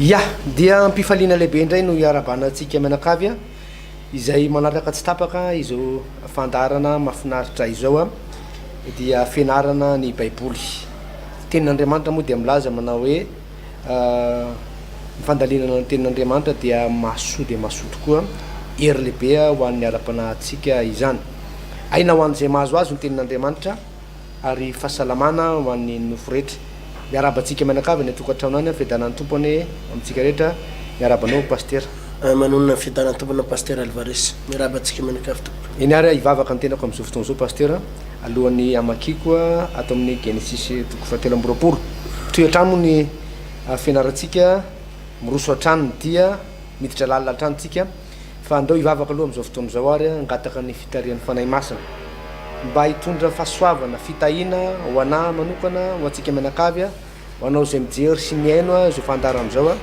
Yah! Dia ampifaliana lehibe indray no iarabana antsika mianakavy a! izay manaraka tsy tapaka izao fandaharana mafinaritra izao a! dia fianarana ny baiboly. Tenin'Andriamanitra moa dia milaza manao hoe ny fandalinana ny tenin'Andriamanitra dia mahasoa dia mahasoa tokoa, hery lehibe ho an'ny ara-panahintsika izany. Aina ho an'izay mahazo azy ny tenin'Andriamanitra. ary fahasalamana ho an'ny nofo rehetra. Miarahaba antsika mianakavy any an-tokantrano any, fiadanan'ny Tompo anie amintsika rehetra, miarahaba anao Pasitera. Manonona ny fiadanan'ny Tompo anao Pasitera Alvarez, miarahaba antsika mianakavy tompoko. Eny ary hivavaka ny tenako amin'izao fotoana izao Pasitera, alohan'ny hamakiako ato amin'ny Genesisy toko fahatelo amby roapolo. Toy hatrany moa ny fianarantsika, miroso hatrany ny dia, miditra lalina hatrany tsika. Fa andao hivavaka aloha amin'izao fotoana izao ary hangataka ny fitarihan'ny Fanahy Masina mba hitondra fahasoavana, fitahiana ho anà manokana, ho antsika mianakavy, ho anao izay mijery sy mihaino izao fandaharana izao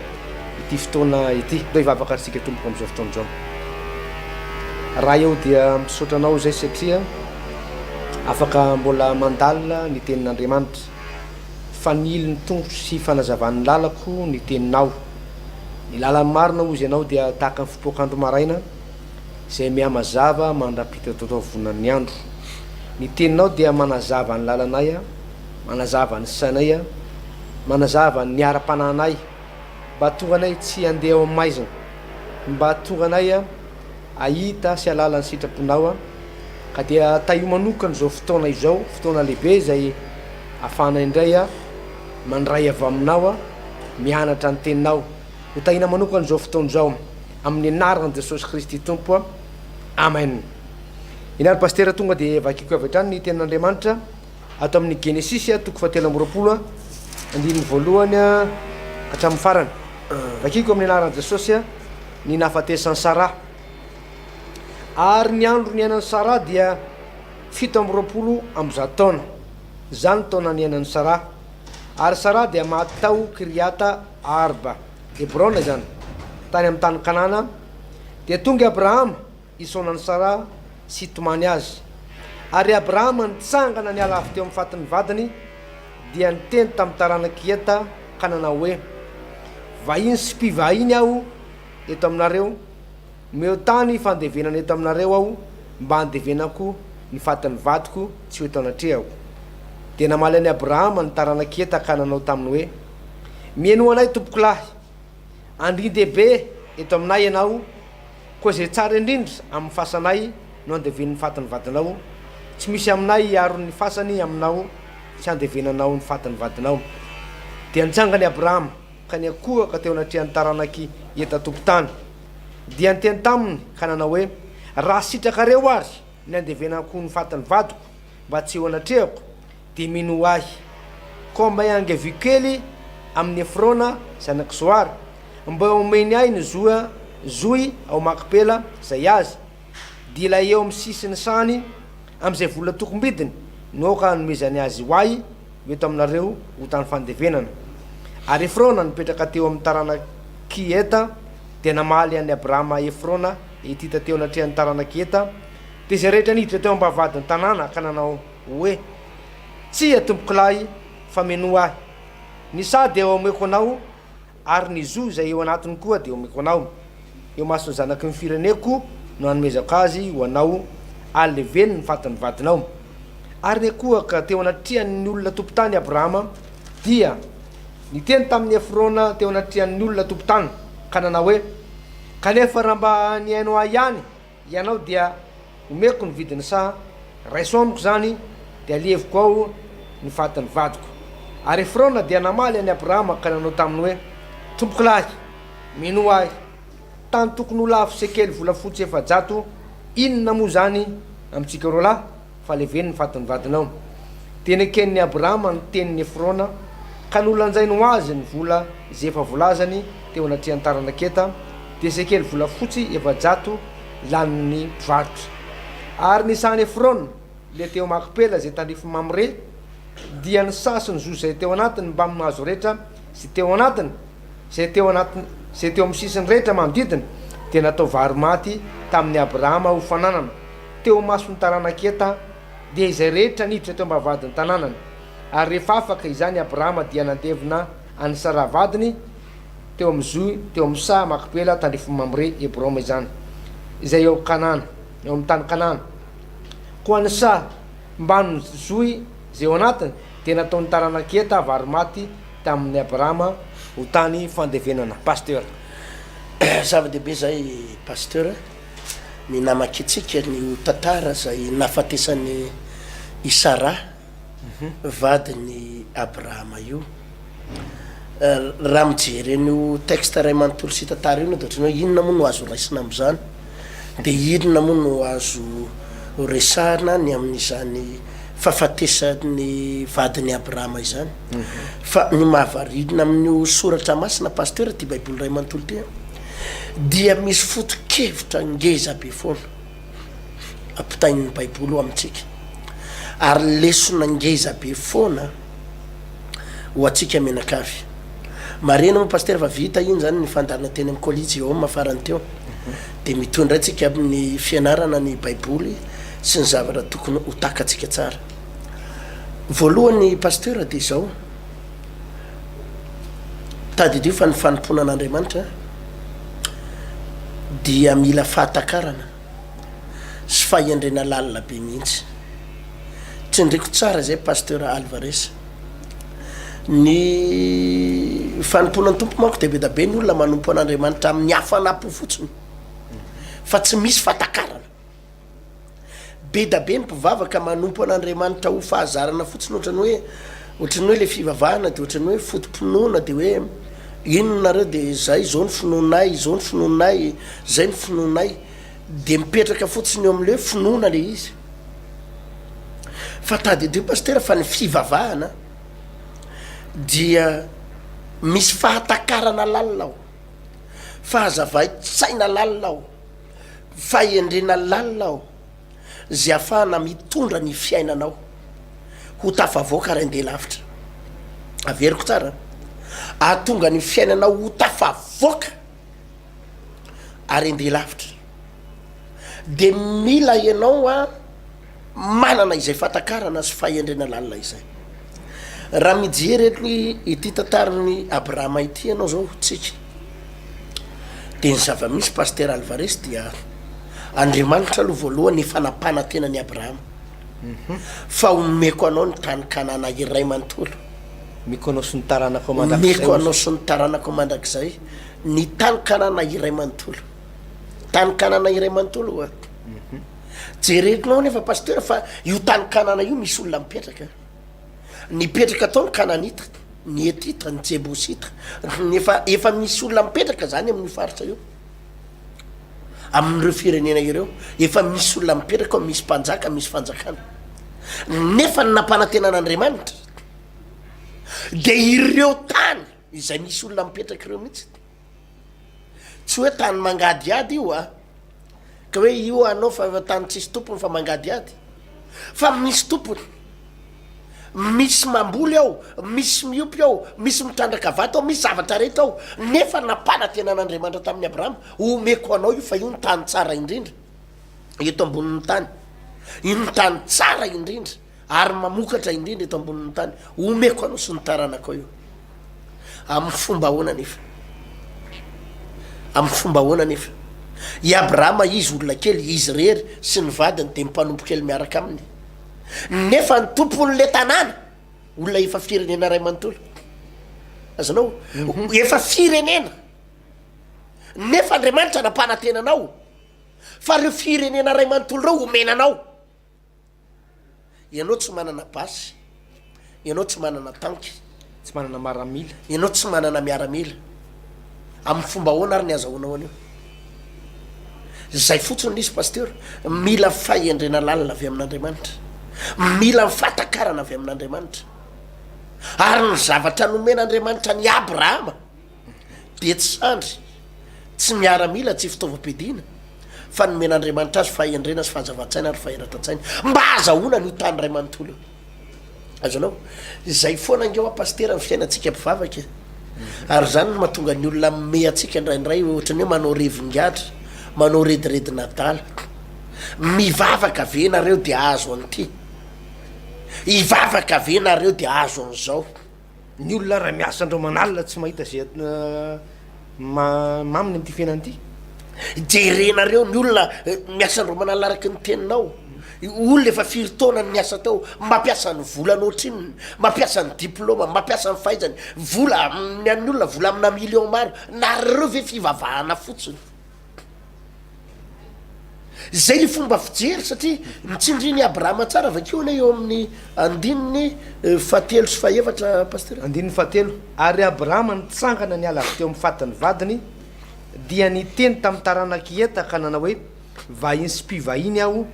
ity fotoana ity. Andao hivavaka ary isika tompoko amin'izao fotoana izao. Ray eo dia misaotra anao izay satria afaka mbola mandalina ny tenin'Andriamanitra. Fanilo ny tongotro sy fanazavan'ny lalako ny teninao. Ny lalan'ny marina hozy ianao dia tahaka ny fipoak'andro maraina izay mihamazava mandra-pita taotavonan'ny andro. Ny teninao dia manazava ny lalanay, manazava ny sainay, manazava ny ara-panahinay, mba hahatonga anay tsy handeha ao amin'ny maizina, mba hahatonga anay hahita sy hahalala ny sitraponao, ka dia tahio manokana izao fotoana izao, fotoana lehibe izay ahafahanay indray Mandray avy aminao aho, mianatra ny teninao. Ho tahiana manokana izao fotoana izao amin'ny anaran'i Jesosy Kristy Tompo a. Amen. Ingahy ry Pasitera tonga dia vakiako avy hatrany ny tenin'Andriamanitra ato amin'ny Genesisy a, toko fahatelo amby roapolo a, andininy voalohany a hatramin'ny farany. Vakiako amin'ny anaran'i Jesosy a, ny nahafatesan'i Sarah. Ary ny andro niainan'i Sarah dia fito amby roapolo amby zato taona. Izany taona niainan'i Sara. Ary Sara dia maty tao Kiriata Arba, Hebrona izany, tany amin'ny tany Kanana, dia tonga i Abrahama hisaona an'i Sara sy hitomany azy. Ary i Abrahama nitsangana niala avy teo amin'ny fatin'ny vadiny, dia niteny tamin'ny taranak'i Heta ka nanao hoe, Vahiny sy mpivahiny aho eto aminareo, Omeo tany fandevenana eto aminareo aho mba handevenako ny fatin'ny vadiko tsy ho eto anatrehako. Dia namaly an'i Abrahama ny taranak'i Heta ka nanao taminy hoe, Mihainoa anay tompokolahy. Andrin-dehibe eto aminay ianao, koa izay tsara indrindra amin'ny fasanay no andevenin'ny fatin'ny vadinao, tsy misy aminay hiaro ny fasany aminao tsy handevenanao ny fatin'ny vadinao. Dia nitsangana i Abrahama ka niankohoka teo anatrehan'ny taranak'i Heta tompon-tany. dia niteny taminy ka nanao hoe, Raha sitrakareo àry ny handevenako ny fatin'ny vadiko mba tsy ho anatrehako, dia minoa ahy. Komba iange vokely amin'i Efrona zanak'i Zohara, mba omeny ahy ny zohy ao Makpela, izay azy. Dila eo amin'ny sisiny sany amin'izay vola tokom-bidiny no aoka hanomezany azy ho ahy eo taminareo ho tany fandevenana. Ary Efrona nipetraka teo amin'ny taranak'i Heta dia namaly an'i Abrama Efrona Hetita teo anatrehan'ny taranak'i Heta, dia izay rehetra niditra teo am-bavahadin'ny tanàna ka nanao hoe, Tsia, tompokolahy, fa minoa ahy. Ny sady eo ameko anao Ary ny zo izay eo anatiny koa dia omeko anao, eo imason'ny zanaky ny fireneko no anomezako azy ho anao, aleveno ny fatin'ny vadinao. Ary niakohaka teo anatrehan'ny olona tompon-tany Abrahama, dia niteny tamin'i Efrona teo anatrehan'ny olona tompon-tany, ka nanao hoe, Kanefa raha mba nihaino ahy ihany, Ianao dia omeko ny vidiny sa raiso amiko izany dia aleviko ao ny fatin'ny vadiko? Ary Efrona dia namaly an'i Abrahama ka nanao taminy hoe, Tompokolahy, minoa ahy, tany tokony ho lafo sekely volafotsy efajato inona moa izany amintsika roalahy? Fa leveno ny fatin'ny vadinao. Dia neken'i Abrahama ny tenin'i Efrona, ka nolanjainy ho azy ny vola izay efa volazany teo anatrehan'ny taranaketa, dia sekely volafotsy efajato lanin'ny mpivarotra. Ary ny sahan'i Efrona, ilay teo Makpela izay tandrifin'i Mamre, dia ny saha sy ny zo izay teo anatiny mbamin'ny hazo rehetra izay teo anatiny, Izay teo anaty, izay teo amin'ny sisiny rehetra manodidina dia natao varo-maty tamin'i Abrahama ho fananana, teo imason'ny taranak'i Heta dia izay rehetra niditra teo am-bavahadin'ny tanànany. Ary rehefa afaka izany Abrahama dia nandevina an'i Saraha vadiny teo amin'ny zohy teo amin'ny saha Makpela tandrifin'i Mamre, Hebroma izany, izay eo Kanana, eo amin'ny tany Kanana. Koa ny saha mbamin'ny zohy izay ao anatiny dia nataon'ny taranak'i Heta varo-maty tamin'i Abrahama ho tany fandevenana Pasteur. Zava dehibe zay Pasteur ny namakintsika ny ho tantara zay nahafatesan'i i Sarah vadin'i Abrahama io Raha mijery an'io texte iray manontolo sy tantara io enao de otrany hoe inona moa no azo raisina amzany? Dia inona moa no azo resahina ny amin'izany fahafatesan'ny vadin'i Abrahama izany? Fa ny mahavariana amin'io soratra masina Pasitera ity Baiboly iray manontolo ity an, dia misy foto-kevitra ngeza be foana ampitain'ny Baiboly ho amintsika, ary lesona ngeza be foana. ho antsika mianakavy. Marihina moa Pasitera fa vita iny zany ny fandaharana teny amin'ny Colliseum farany teo. Dia mitohy indray tsika amin'ny fianarana ny Baiboly sy ny zavatra tokony ho takatsika tsara. Voalohany Pasteur dia izao, tadidio fa ny fanompoana an'Andriamanitra dia mila fahatakarana. sy fahendrena lalina be mihitsy. Tsindriko tsara izay Pasteur Alvarez. Ny fanompoana ny Tompo manko dia be dia be ny olona manompo an'Andriamanitra amin'ny hafana-po fotsiny fa tsy misy fahatakarana. Be dia be ny mpivavaka manompo an'Andriamanitra ho fahazarana fotsiny ohatran'ny hoe Ohatran'ny hoe ilay fivavahana dia ohatran'ny hoe foto-pinoana dia hoe inona nareo dia izay izao ny finoanay, izao ny finoanay, izay ny finoanay. Dia mipetraka fotsiny eo amin'ilay hoe finoana ilay izy. Fa tadidio Pasitera fa ny fivavahana dia misy fahatakarana lalina ao, fahazavain-tsaina lalina ao, fahendrena lalina ao. izay afahana mitondra ny fiainanao ho tafavoaka ary andeha lavitra. Averiko tsara an! Ahatonga ny fiainanao ho tafavoaka ary andeha lavitra dia mila ianao manana izay fahatakarana sy fahendrena lalina izay. Raha mijery ity tantaran'i Abrahama ity ianao izao, tsika, Dia ny zava-misy Pasitera Alvarez dia Andriamanitra aloha voalohany efa nampanantena an'i Abrahama fa homeko anao ny tany Kanana iray manontolo. Omeko anao sy ny taranakao mandrakizay. Omeko anao sy ny taranakao mandrakizay ny tany Kanana iray manontolo. Tany Kanana iray manontolo oa. Jerenao anefa Pasitera fa io tany Kanana io misy olona mipetraka. Nipetraka tao ny Kananita, ny Hetita, ny Jebosita, efa efa misy olona mipetraka zany amin'io faritra io. Amin'ireo firenena ireo, efa misy olona mipetraka, misy mpanjaka, misy fanjakana. Nefa ny nampanantenan'Andriamanitra dia ireo tany izay misy olona mipetraka ireo mihitsy. Tsy hoe tany mangadihady io a! Ka hoe io anao fa tany tsisy tompony fa mangadihady. Fa misy tompony. Misy mamboly ao, misy miompy ao, misy mitrandraka vato ao, misy zavatra rehetra ao. Nefa nampanantenan'Andriamanitra tamin'i Abrahama, Homeko anao io fa io no tany tsara indrindra eto ambonin'ny tany. Io no tany tsara indrindra. ary mamokatra indrindra eto ambonin'ny tany, omeko anao sy ny taranakao io. Amin'ny fomba ahoana anefa? Amin'ny fomba ahoana anefa? I Abrahama izy olona kely, izy irery sy ny vadiny dia mpanompo kely miaraka aminy. Nefa ny tompon'ilay tanàna, olona efa firenena iray manontolo. Azonao? Mhm. Efa firenena. Nefa Andriamanitra nampanantena anao fa ireo firenena iray manontolo ireo homena anao. Ianao tsy manana basy. Ianao tsy manana tanky. Tsy manana maramila. Ianao tsy manana miaramila. Amin'ny fomba ahoana ary ny azahoanao an'io? Izay fotsiny no izy Pasteur, mila fahendrena lalina avy amin'Andriamanitra. Mila ny fahatakarana avy amin'Andriamanitra. Ary ny zavatra nomen'Andriamanitra an'i Abrahama. dia tsy sandry, tsy miaramila, tsy fitaovam-piadiana, fa nomen'Andriamanitra azy fahendrena sy fahazavan-tsaina ary faheratan-tsaina mba hazahoana an'io tany iray manontolo io. Azonao? Izay foana ange hoa Pasitera ny fiainantsika mpivavaka e. Ary izany no mahatonga ny olona mimehy antsika indraindray ohatra ny hoe manao revin-gadra, manao rediredin'adala. Mivavaka ve nareo dia hahazo an'ity? Hivavaka ve nareo dia hahazo an'izao? Ny olona raha miasa andro aman'alina tsy mahita izay maminy amin'ity fiainana ity. Jerenareo ny olona miasa andro aman'alina araka ny teninao. Olona efa firy taona no niasa tao, mampiasa ny volany ohatrinona, mampiasa ny diplaomany, mampiasa ny fahaizany, vola amin'ny an'ny olona vola amina million maro, nareo ve fivavahana fotsiny. Izay ny fomba fijery satria ny tsindrin' i Abrahama tsara, vakio anie eo amin' ny andininy fahatelo sy fahaefatra Pasitera. Andininy fahatelo, Ary Abrahama nitsangana niala avy teo amin' ny fatin' ny vadiny, dia niteny tamin' ny taranak' i Heta ka nanao hoe, Vahiny sy mpivahiny aho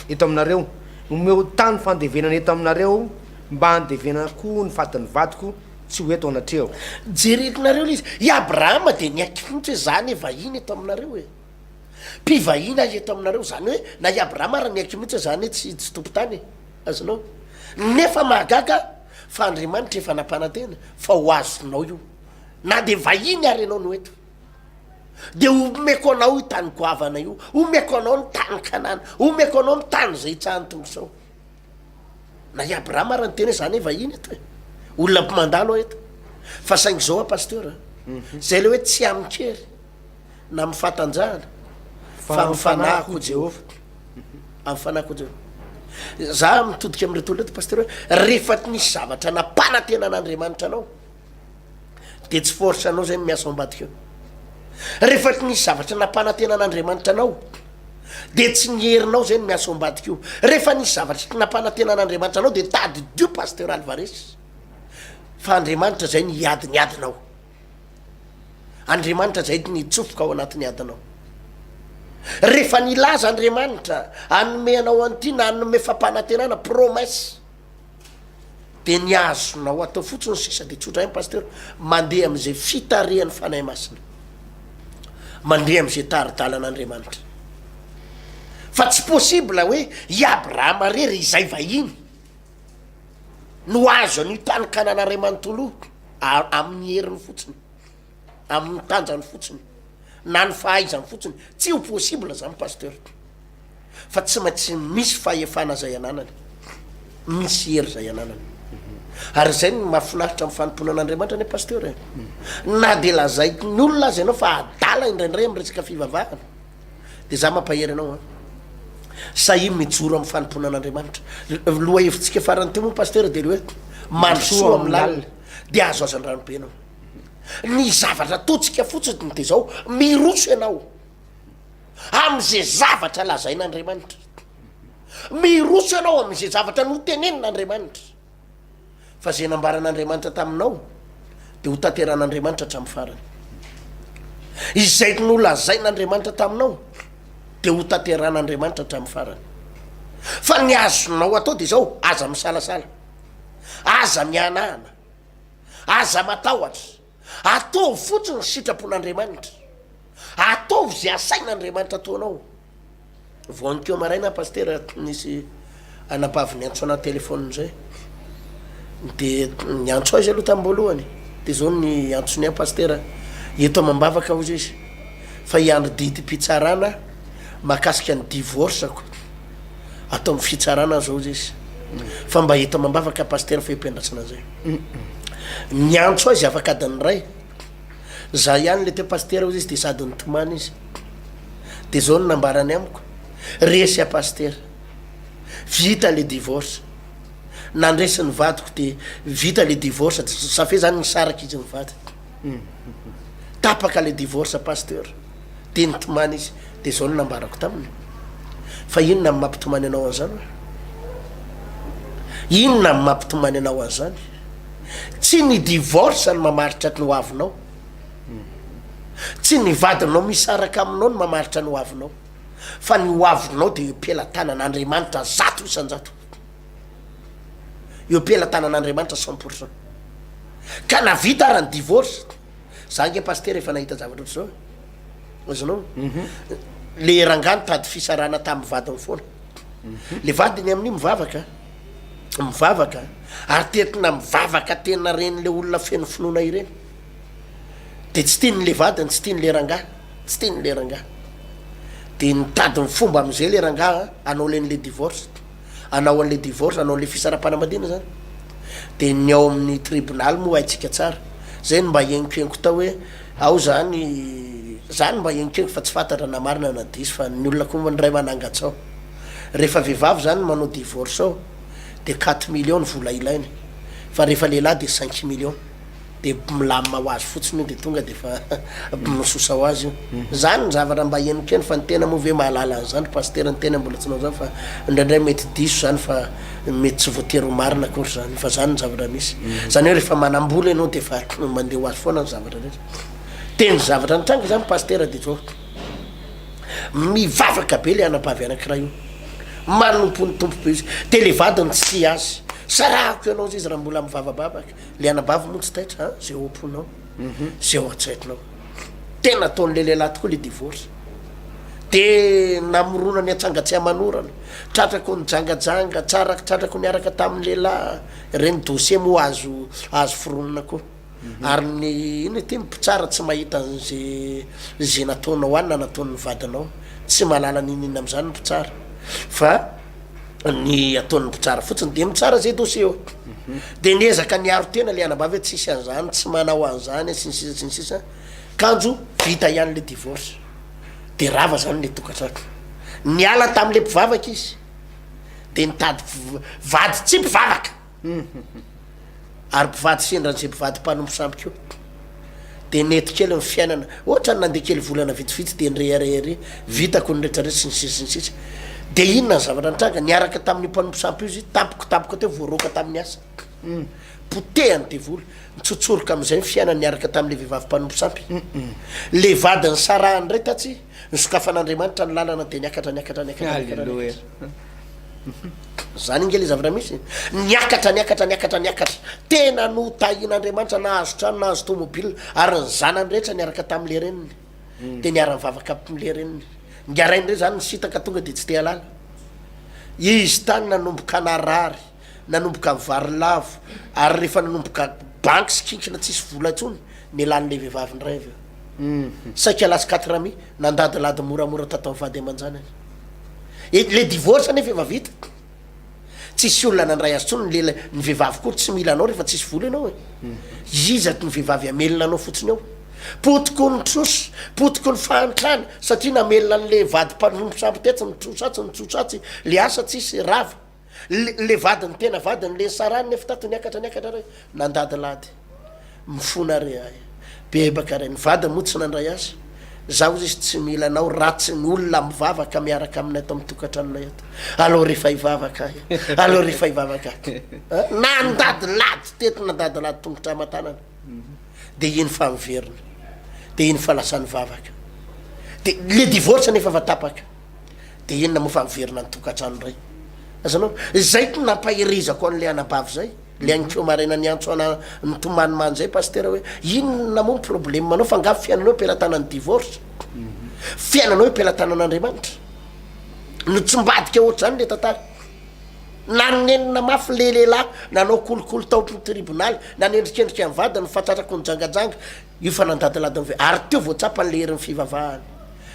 eto aminareo, omeo tany fandevenana eto aminareo mba handevenako ny fatin' ny vadiko, Tsy ho eto anatreho. Jereko nareo ilay izy. I Abrahama dia niaiky fotsiny hoe za anie vahiny eto aminareo e. Mpivahiny ahy eto aminareo. Izany hoe na i Abrahama ary niaiky mihitsy hoe za anie tsy tsy tompon-tany e. Azonao? Nefa mahagaga fa Andriamanitra efa nampanantena fa ho azonao io. Na dia vahiny ary ianao no eto. Dia homeko anao io tany goavana io. Homeko anao ny tany Kanana. Homeko anao ny tany izay hitsahan'ny tongosao. Na i Abraham ary niteny hoe za ne vahiny eto e, olona mpimandalo aho eto. Fa saingy zao an Pasteur an, zay le hoe tsy amin-kery na amin'ny fahatanjahana fa amin'ny fanahy koa Jehovah. Amin'ny fanahy koa Jehovah. Za mitodika amin'ireto olona ireto Pasteur hoe rehefa nisy zavatra nampanantenan'Andriamanitra anao, dia tsy force anao zay no miasa ao ambadika eo. Rehefa tsy nisy zavatra nampanantenan'Andriamanitra anao dia tsy ny herinao zay no miasa ao ambadika eo. Rehefa nisy zavatra tsy nampanantenan'Andriamanitra anao dia tadidio Pasteur Alvarez fa Andriamanitra zay no hiady ny adinao. Andriamanitra zay no hitsofoka ao anatin'ny adinao. Rehefa nilaza Andriamanitra hanome anao an'ity na hanome fampanantenana promesse Dia ny azonao atao fotsiny sisa dia tsotra ihany Pasteur, mandeha amin'izay fitarihan'ny Fanahy Masina. Mandeha amin'izay tari-dalan'Andriamanitra. Fa tsy possible hoe i Abrahama irery izay vahiny no azo an'io tany Kanana iray manontolo io amin'ny heriny fotsiny. amin'ny tanjany fotsiny na ny fahaizany fotsiny tsy ho possible zany pasteur fa tsy maintsy misy fahefana zay ananany misy hery zay ananany ary zay ny mahafinaritra amin'ny fanompoana an'andriamanitra anie pasteur e na de lazaiko ny olona azy ianao fa adala indraindray amin'ny resaka fivavahana de za mampahery anao an sahia mijoro amin'ny fanompoana an'andriamanitra loha hevitsika farany teo moa pasteur de le hoe mandrosoa amin'ny lalina de azo azan-dranobe ianao Ny zavatra ataontsika fotsiny dia izao, miroso ianao amin'izay zavatra lazain'Andriamanitra, miroso ianao amin'izay zavatra notenenin'Andriamanitra, fa izay nambaran'Andriamanitra taminao dia ho tanteran'Andriamanitra hatramin'ny farany, izay nolazain'Andriamanitra taminao dia ho tanteran'Andriamanitra hatramin'ny farany, fa ny azonao atao dia izao, aza misalasala, aza mihanahana. Aza matahotra. Ataovy fotsiny ny sitrapon'Andriamanitra. Ataovy izay asain'Andriamanitra ataonao. Voanikeo maraina aho pasitera nisy anabavy niantso anahy téléphone zay. Dia niantso aho izy aloha tamin'ny voalohany. Dia izao ny antsony ahy pasitera. Eto amam-bavaka hoy izy fa hiandry didim-pitsarana mahakasika ny divorce-ko. Ato am fitsarana aza ozy izy fa mba eto amambavaka pasteur fehim-piandrasana zay niantso azy afaka adiny iray za ihany le teo pasteur ozy izy de sady nitomany izy de zao ny nambarany amiko resy a pasteur vita le divorce nandresy ny vadiko de vita le divorce de safia zany nisaraka izy mivady Tapaka le divorce pasteur de nitomany izy de zao no nambarako taminy fa inona no mampitomany anao anzany oe? Inona no mampitomany anao anzany? Tsy ny divorce no mamaritra ny hoavinao, tsy ny vadinao misaraka aminao no mamaritra ny hoavinao fa ny hoavinao de eo pelatanan'Andriamanitra zato isan-jato. eo am-pelatanan'Andriamanitra cent pour cent. Ka na vita ara ny divorce, za nge Pasitera efa nahita zavatra ohatr'izao e. Azonao? Le rangahy nitady fisarahana tamin'ny vadiny foana. Le vadiny amin'io mivavaka, mivavaka, ary tetina mivavaka tena ren'le olona feno finoana ireny. De tsy tiany le vadiny, tsy tiany le rangahy, tsy tiany le rangahy. De nitady ny fomba amin'izay le rangahy hanao le an'le divorce. anao anle divorce anao anle fisarampanamadina zany de ny ao amin'ny tribonaly moa haintsika tsara zay no mba henkohenko tao hoe ao zany za no mba henkohenko fa tsy fantatra na marina na diso fa ny olona koa ny ray manangatsao rehefa vehivavy zany manao divorce ao de quatre millions ny vola ilainy fa rehefa lehilahy de cinq millions dia bmilamina ho azy fotsiny io dia tonga dia efa bmisosa ho azy io. Izany ny zavatra mba henoko eny fa ny tena moa ve mahalala an'izany ry pasitera ny tena mbola tsy nanao izany fa indraindray mety diso izany fa mety tsy voatery ho marina akory izany fa izany ny zavatra misy. Izany hoe rehefa manam-bola ianao dia efa mandeha ho azy foana ny zavatra rehetra. Teny zavatra nitranga izany pasitera dia izao, mivavaka be ilay anabavy anankiray io, manompo ny Tompo be izy dia ilay vadiny tsy azy, sarahako ianao izay izy raha mbola mivavabavaka. le anabavy moa tsy taitra a ze ao am-ponao ze ao an-tsairinao tena ataon'le lehilahy tokoa le divorce de namorona ny antsangatsiamanorana tratrako ny jangajanga tsara tratrako niaraka tamin'ny lehilahy reny dossier moa azo azo foronina koa ary ny ina ity ny mpitsara tsy mahita an'ze ze nataonao any na nataon'ny vadinao tsy mahalala n'in'inona amin'izany ny mpitsara fa ny ataon'ny mpitsara fotsiny de mitsara zay dossier eo de ny ezaka ny aro tena le anambavy hoe tsisy an'zany tsy manao an'zany sy ny sisa sy ny sisa kanjo vita ihany le divorce de rava zany le tokantrano niala tam'le mpivavaka izy de nitady vady tsy mpivavaka Huhum. Ary mpivady sendra an'izay mpivady mpanompo sampy koa dia nety kely ny fiainana, ohatrany nandeha kely volana vitsivitsy dia nirehareha ery, vitako ny rehetra rehetra sy ny sisa sy ny sisa. Dia inona ny zavatra nitranga? Niaraka tamin'io mpanompo sampy io izy, tampoka tampoka teo vao roaka tamin'ny asa. Humm. Potehan'ny devoly, nitsotsoroka amin'izay ny fiainany niaraka tamin'ilay vehivavy mpanompo sampy. Humm. Ilay vadiny sarahany indray tatsy. Nosokafan'Andriamanitra ny lalana dia niakatra niakatra niakatra niakatra niakatra. Zany nge le zavatra misy e. Niakatra niakatra niakatra niakatra. Tena notahian'Andriamanitra nahazo trano nahazo tomobile ary ny zanany rehetra niaraka tamin'le reniny. Hmm. Dia niara nivavaka amle reniny. Ngarainy re zany nisitaka tonga dia tsy te halala. Izy tany nanomboka narary. Nanomboka vary lavo ary rehefa nanomboka banky sy kinkina tsisy vola intsony ny lalin'ilay vehivavy indray avy eo. Saika last quatre amis, nandadilady moramora tato amin'ny vady aman-janany. Ilay divorce anefa efa vita. Tsisy olona nandray azy intsony ny lela, ny vehivavy koa tsy mila anao rehefa tsisy vola ianao e. Iza ny vehivavy hamelona anao fotsiny eo? Potiky ny trosa, potiky ny fahantrana satria namelona an'ilay vady mpanompy sambotetsy ny trosa tsy ny trosa tsy, ilay asa tsisy rava. Le le vadiny tena vadiny le nisarahany nefa tato niakatra niakatra re nandady lady mifona re ay bebaka re ny vadiny moa tsy nandray azy za ozy izy tsy mila anao ratsy ny olona mivavaka miaraka aminay ato amin'ny tokantranonay ato aleo rehefa hivavaka ay aleo rehefa hivavaka ato Eh, nandady lady teto nandady lady tongotra aman-tanana de iny fa miverina de iny fa lasa nivavaka de le divorce nefa efa tapaka de inona moa fa miverina ny tokantrano indray azanao zay ko nampaherezako an'ilay anabavy zay le ankeo maraina niantso ana nitomany manjay pastera hoe inona moa ny probleme anao fa nga fiainanao pelatanan'ny divorce fiainanao pelatanan'andriamanitra no tsy mbadika ohatr'izany le tantara nanenina mafy le lehilahy nanao kolikoly taotry ny tribonaly nanendrikendrika ny vadiny fatratrako ny jangajanga Io fa nandadiladiny ve? Ary teo vao tsapany ilay herin'ny fivavahany,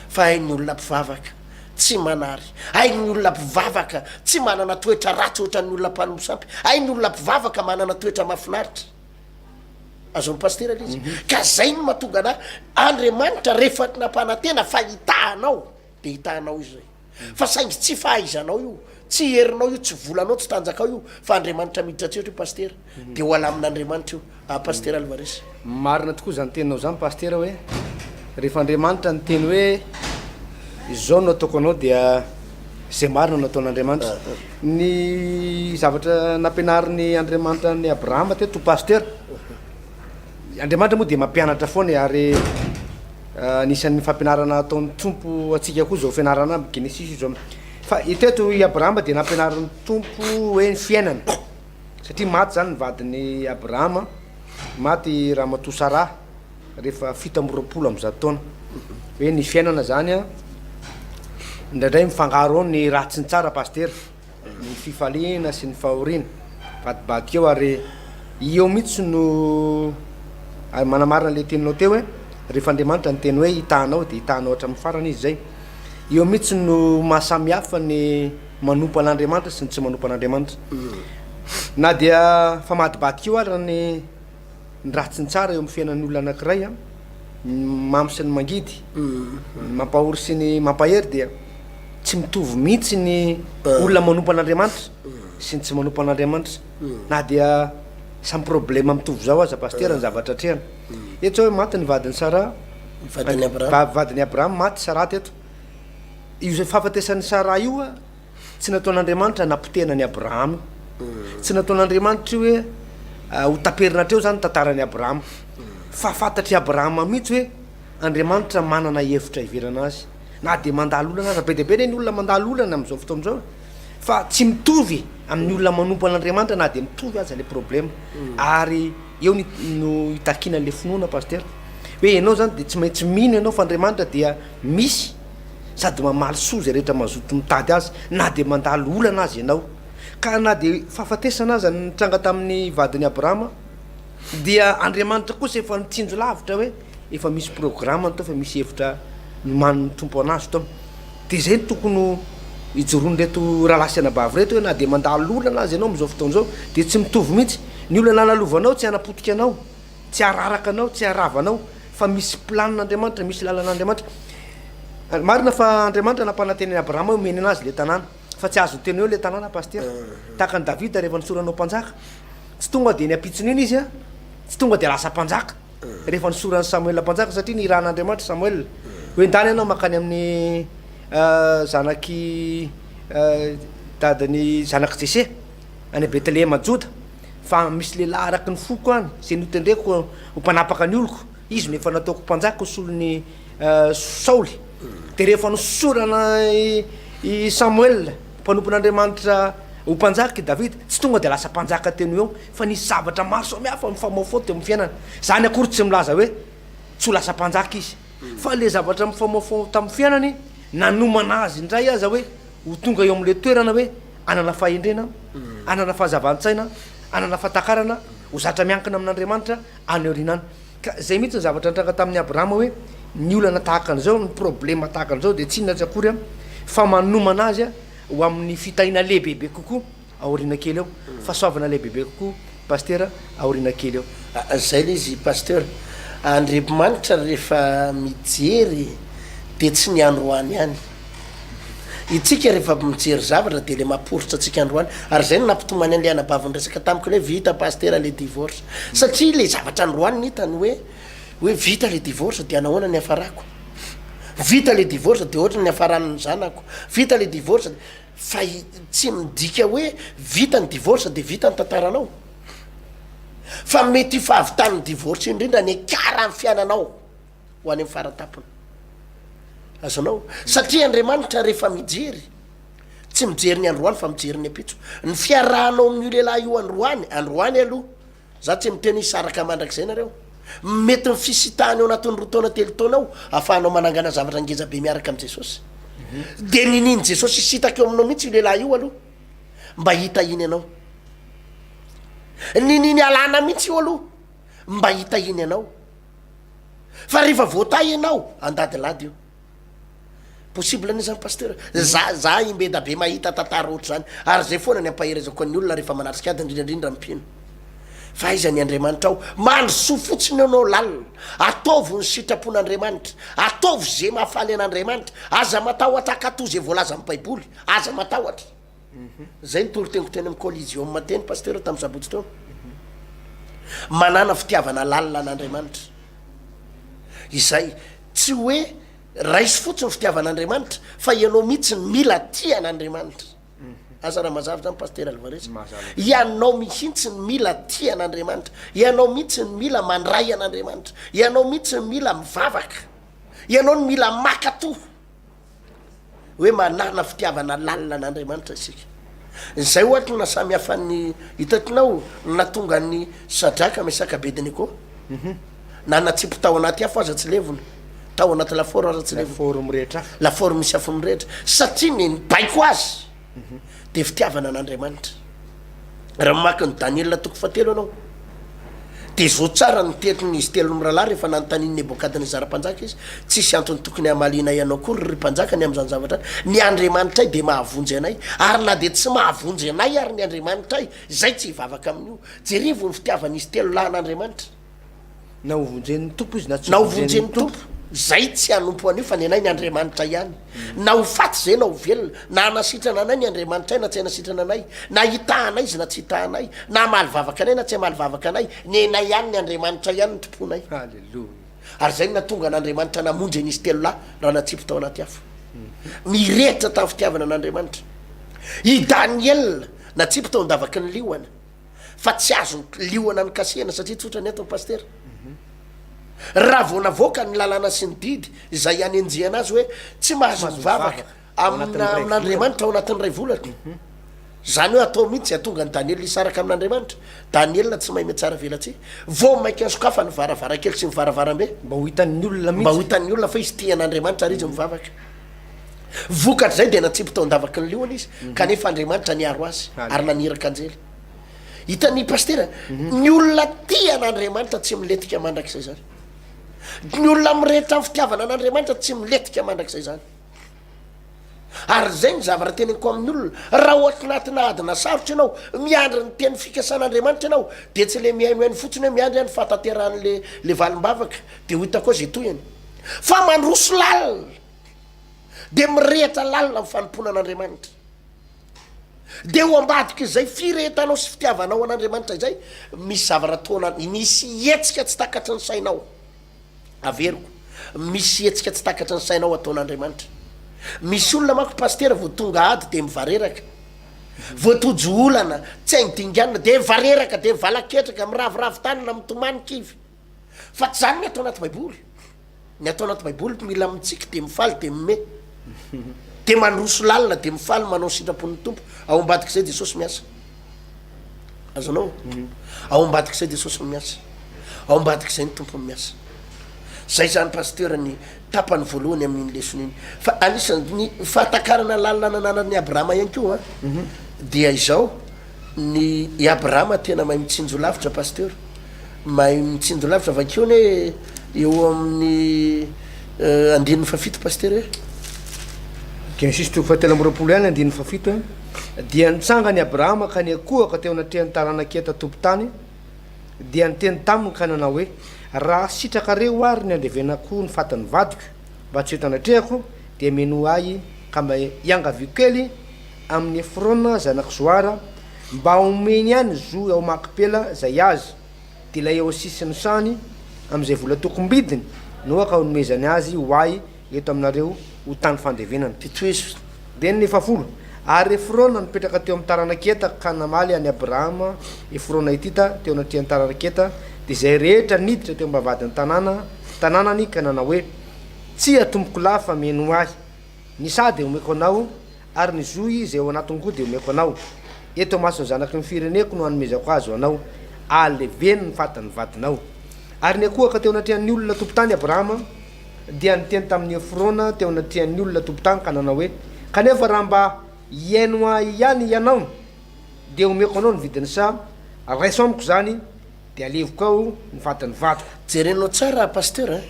fa hain'ny olona mpivavaka tsy manary, hain'ny olona mpivavaka tsy manana toetra ratsy ohatran'ny olona mpanompo sampy, hain'ny olona mpivavaka manana toetra mahafinaritra. Azon'ny pasitera ilay izy. Mhm. Ka zay no mahatonga anah, Andriamanitra rehefa nampanantena fa hitahanao, dia hitahanao izy zay. Fa saingy tsy fahaizanao io, tsy herinao io, tsy volanao, tsy tanjakao io fa Andriamanitra miditra an-tsehatra io Pasitera, dia ho alamin' Andriamanitra io ah Pasitera Alvarez. Marina tokoa izany teninao izany Pasitera hoe rehefa Andriamanitra niteny hoe izao no ataoko anao dia izay marina no ataon' Andriamanitra. Ny zavatra nampianarin' Andriamanitra an' i Abrahama teto Pasitera. Andriamanitra moa dia mampianatra foana e, ary anisan'ny fampianarana ataon'ny Tompo antsika koa izao fianarana amin'ny Genesisy izao. Fa eto eto i Abrahama dia nampianarin'ny Tompo hoe ny fiainana, satria maty izany ny vadin'i Abrahama, maty ramatoa Saraha rehefa fito amby roapolo amby zato taona. Hoe ny fiainana izany an, indraindray mifangaro ao ny raha tsy ny tsara Pasitera. Ny fifaliana sy ny fahoriana. Vadibadika eo ary eo mihitsy no ary manamarina ilay teninao teo hoe rehefa Andriamanitra niteny hoe hitaha anao dia hitaha anao hatramin'ny farany izy izay. Eo mihitsy no maha samy hafa ny manompo an'Andriamanitra sy ny tsy manompo an'Andriamanitra. Na dia famadibadika eo ary ny ny ratsy sy ny tsara eo amin'ny fiainan'olona anankiray an, ny mamy sy ny mangidy, ny mampahory sy ny mampahery dia tsy mitovy mihitsy ny olona manompo an'Andriamanitra sy ny tsy manompo an'Andriamanitra na dia samy problema mitovy izao aza Pasitera ny zavatra atrehana eto izao hoe maty ny vadin'i Sarah vadin'i Abraham vadin'i Abraham maty Sarah teto io fahafatesan'i Sarah io Tsy nataon'Andriamanitra napotehina an'i Abrahama. Tsy nataon'Andriamanitra io hoe ho taperina hatreo izany ny tantaran'i Abrahama. Fa fantatr'i Abrahama mihitsy hoe Andriamanitra manana hevitra hiverana azy. Na dia mandalo olana aza, be dia be anie ny olona mandalo olana amin'izao fotoana izao e! Fa tsy mitovy amin'ny olona manompo an'Andriamanitra na dia mitovy aza ilay problema. Ary eo ny no itakiana an'ilay finoana Pasitera. Hoe ianao izany dia tsy maintsy mino ianao fa Andriamanitra dia misy. sady mamaly soa izay rehetra mazoto mitady azy na dia mandalo olana aza ianao. Ka na dia fahafatesana aza ny nitranga tamin'ny vadin'i Abrahama, dia Andriamanitra kosa efa nitsinjo lavitra hoe efa misy programany tao, efa misy hevitra nomanin'ny Tompo an'azy tao. Dia izay no tokony ho ijoroan'ireto rahalahy sy anabavy ireto hoe na dia mandalo olana aza ianao amin'izao fotoana izao, dia tsy mitovy mihitsy. Ny olana lalovanao tsy hanapotika anao. Tsy araraka anao, tsy arava anao, fa misy plan Andriamanitra, misy lalana Andriamanitra. Marina fa Andriamanitra nampanantena an'i Abrahama hoe homeny anazy le tanàna, fa tsy azony teo eo le tanàna Pasitera. Tahaka an'i Davida rehefa nisorana ho mpanjaka, tsy tonga dia niampitson'iny izy an, tsy tonga dia lasa mpanjaka rehefa nisoran'i Samoela mpanjaka, satria nirahan'Andriamanitra Samoela hoe endany ianao mankany amin'ny zanak'i dadan'i zanak'i Jese any Betlehema Joda. fa misy lehilahy araky ny foko any zay notendreko ho mpanapaka ny oloko izy no efa nataoko mpanjaka ho solon'i saoly de rehefa nosorana i samoela mpanompon'andriamanitra ho mpanjaka i davida tsy tonga de lasa mpanjaka teny ho eo fa nisy zavatra maro samihafa mifamaofao teo amin'ny fiainana zany akory tsy milaza hoe tsy ho lasa mpanjaka izy fa le zavatra mifamaofao tamin'ny fiainany nanomana azy indray aza hoe ho tonga eo amin'le toerana hoe hanana fahendrena, hanana fahazavan-tsaina, hanana fahatakarana, ho zatra miankina amin'Andriamanitra any aoriana any. Ka izay mihitsy ny zavatra nitranga tamin'i Abrahama hoe ny olana tahaka an'izao, ny problema tahaka an'izao dia tsy inona tsy akory fa manomana azy ho amin'ny fitahiana lehibebe kokoa aoriana kely eo, fahasoavana lehibebe kokoa. Pasteur aorina kely eo. Zay le izy Pasteur. Andriabimanitra refa mijery de tsy ny androany ihany. Itsika refa avy mijery zavatra de le maporitra antsika androany. Ary zay no nampitomany anle anabavy niresaka tamiko le hoe vita Pasteur le divorce. Satria le zavatra androany no hitany hoe hoe vita le divorce dia nahoana ny hiafarako. Vita le divorce dia ohatry ny niafarany ny zanako. Vita le divorce dia. Fa tsy midika hoe vita ny divorce dia vita ny tantaranao. Fa mety io fahavitan'ny divorce io indrindra no hiakara ny fiainanao ho any amin'ny faran-tampony. Azonao? Satria Andriamanitra rehefa mijery, tsy mijery ny androany fa mijery ny ampitso. Ny fiarahanao amin'io lehilahy io androany, androany aloha, Za tsy miteny hoe hisaraka mandrakizay nareo. Mety ny fisitahana eo anatin'ny roa taona telo taona ao afahanao manangana zavatra ngeza be miaraka amin'i Jesosy. Dia ninian'i Jesosy hisitaka eo aminao mihitsy io lehilahy io aloha mba hitahiany anao. Niniany halana mihitsy io aloha mba hitahiany anao. Fa rehefa voatahy ianao, andadilady io. Possible anie zany Pasteur, za za i Mbeda be mahita tantara ohatr'izany ary zay foana ny ampaherezako an'ny olona rehefa manatrika ady indrindra indrindra ny mpino fa aiza ny Andriamanitra ao, mandrosoa fotsiny eo nao lalina, ataovy ny sitrapon'Andriamanitra, ataovy ze mahafaly an'Andriamanitra, aza matahotra hakato ze voalazan'ny baiboly, aza matahotra. Izay no toritengotro eny amin'ny Coliseum teny Pasteur tamin'ny sabotsy teo. Manàna fitiavana lalina an'Andriamanitra. Izay. Tsy hoe raiso fotsiny ny fitiavan'Andriamanitra fa ianao mihitsy no mila tia an'Andriamanitra. Asa raha mazava izany Pasteur Alvarez. Ianao mihitsy no mila tia an'Andriamanitra. Ianao mihitsy no mila mandray an'Andriamanitra. Ianao mihitsy no mila mivavaka. Ianao no mila maka toha. hoe manana fitiavana lalina an'Andriamanitra isika. Izay ohatra no nasamihafan'ny hitantinao no nahatonga an'i Sadraka, Mesaka, Abednego mhm. na natsipy tao anaty afo aza tsy levona, tao anaty lafaoro aza tsy levona, lafaoro mirehitra, lafaoro misy afo mirehitra, satria ny nibaiko azy. dia fitiavana an'Andriamanitra. Raha mamaky ny Daniela toko fahatelo ianao, dia zo tsara ny tenin'izy telo mirahalahy rehefa nanontanian'i Nebokadnezara mpanjaka izy, Tsisy antony tokony hamalianay anao akory, ry mpanjaka, ny amin'izany zavatra izany. Ny Andriamanitray dia mahavonjy anay, ary na dia tsy mahavonjy anay àry ny Andriamanitray, izay tsy hivavaka amin'io. Jerevo ny fitiavan'izy telo lahy an'Andriamanitra. Na ho vonjen'ny Tompo izy na tsy ho vonjen'ny Tompo. Izay tsy hanompo an'io fa ny anay ny Andriamanitra ihany. Na ho faty izay na ho velona. Na hanasitrana anay ny Andriamanitray na tsy hanasitrana anay. Na hitaha anay izy na tsy hitaha anay. Na hamaly vavaka anay na tsy hamaly vavaka anay. Ny anay ihany ny Andriamanitra ihany no tomponay. Haleloia. Ary izay no nahatonga an'Andriamanitra namonjy an'izy telo lahy raha natsipy tao anaty afo. Nirehitra tamin'ny fitiavana an'Andriamanitra. I Daniela natsipy tao an-davaky ny liona. fa tsy azo liona ny kasihana satria tsotra ny antony pasitera raha vao navoaka ny lalàna sy ny didy izay hanenjehana azy hoe tsy mahazo mivavaka amina amin'andriamanitra ao anatin'ny ray volana zany hoe atao mihitsy atonga ny daniela isaraka amin'andriamanitra daniela tsy mahay metsara velatsy vao mainka sokafa ny varavarakely sy ny varavarambe mba ho hitan'ny olona mba ho hitan'ny olona fa izy tia an'andriamanitra ary izy mivavaka Vokatr'izay dia natsipy tao an-davaky ny liona izy, kanefa Andriamanitra niaro azy ary naniraka anjely. Hitan'ny Pasitera, ny olona tia an'Andriamanitra tsy milentika mandrakizay izany. Ny olona mirehitra amin'ny fitiavana an'Andriamanitra tsy milentika mandrakizay izany. Ary izay ny zavatra teneniko amin'ny olona, raha ohatry natina adina sarotra ianao, miandry ny teny fikasan'Andriamanitra ianao, dia tsy le mihainohaino fotsiny hoe miandry aho ny fahatanterahan'le le valim-bavaka, dia ho hitako ao izay tohiny. Fa mandroso lalina, dia mirehitra lalina ny fanompoana an'Andriamanitra. Dia ho ambadik'izay firehetanao sy fitiavanao an'Andriamanitra izay, misy zavatra ataona, misy hetsika tsy takatry ny sainao. Averiko, misy hetsika tsy takatry ny sainao ataon'Andriamanitra. Misy olona manko pasitera vao tonga ady dia mivareraka. Vao tojo olana, tsy hainy dinganina, dia mivareraka, dia mivala-ketraka, miraviravy tanana, mitomany kivy. Fa tsy zany ny atao anaty baiboly. Ny atao anaty baiboly mila mitsiky de mifaly de mime. De mandroso lalina de mifaly manao sitrapon'ny Tompo. Ao ambadik'izay Jesosy miasa. Azonao? Ao ambadik'izay Jesosy no miasa. Ao ambadik'izay ny Tompo no miasa. Zay zany pasteur ny tapany voalohany amin'iny lesona iny. Fa anisan'ny fahatakarana lalina nananan'i Abrahama ihany koa dia izao Ny i Abrahama tena mahay mitsinjo lavitra Pasteur, mahay mitsinjo lavitra vakio anie eo amin'ny andininy fahafito Pasteur eh. Genesisy toko fahatelo amby roapolo ihany andininy fahafito eh, dia nitsangany Abrahama ka niankohoka teo anatrehan'ny taranak'Heta tompon-tany dia niteny taminy ka nanao hoe, Raha sitrakareo àry ny handevenako ny fatin'ny vadiko mba tsy ho eto anatrehako, dia menoa ahy ka mba iangaviako kely, amin'ny Efrona zanak'i Zohara, mba homeny ihany zo ao Makpela izay azy, dia ilay eo sisin'ny sany, amin'izay vola tokom-bidiny no aoka honomezany azy ho ahy eto aminareo ho tany fandevenana. Fitoezo dia ny fahafolo. Ary Efrona nipetraka teo amin'ny taranak'i Heta ka namaly an'i Abrahama Efrona Hetita teo anatrehan'ny taranak'i Heta, dia izay rehetra niditra teo am-bavahadin'ny tanàna tanànany ka nanao hoe, Tsia, tompokolahy, fa mino ahy. Ny saha dia omeko anao, ary ny zohy izay ao anatin-ko dia omeko anao. Eto imason'ny zanaky ny fireneko no hanomezako azy ho anao. Ahaleveno ny fatin'ny vadinao. Ary niakohaka teo anatrehan'ny olona tompon-tany Abrahama, dia niteny tamin'i Efrona teo anatrehan'ny olona tompon-tany ka nanao hoe, Kanefa raha mba hihaino ahy ihany hianao, dia omeko anao ny vidin'ny saha, raiso amiko izany, De aleviko ao ny vadin'ny vadiko. Jerenao tsara Pasteur a!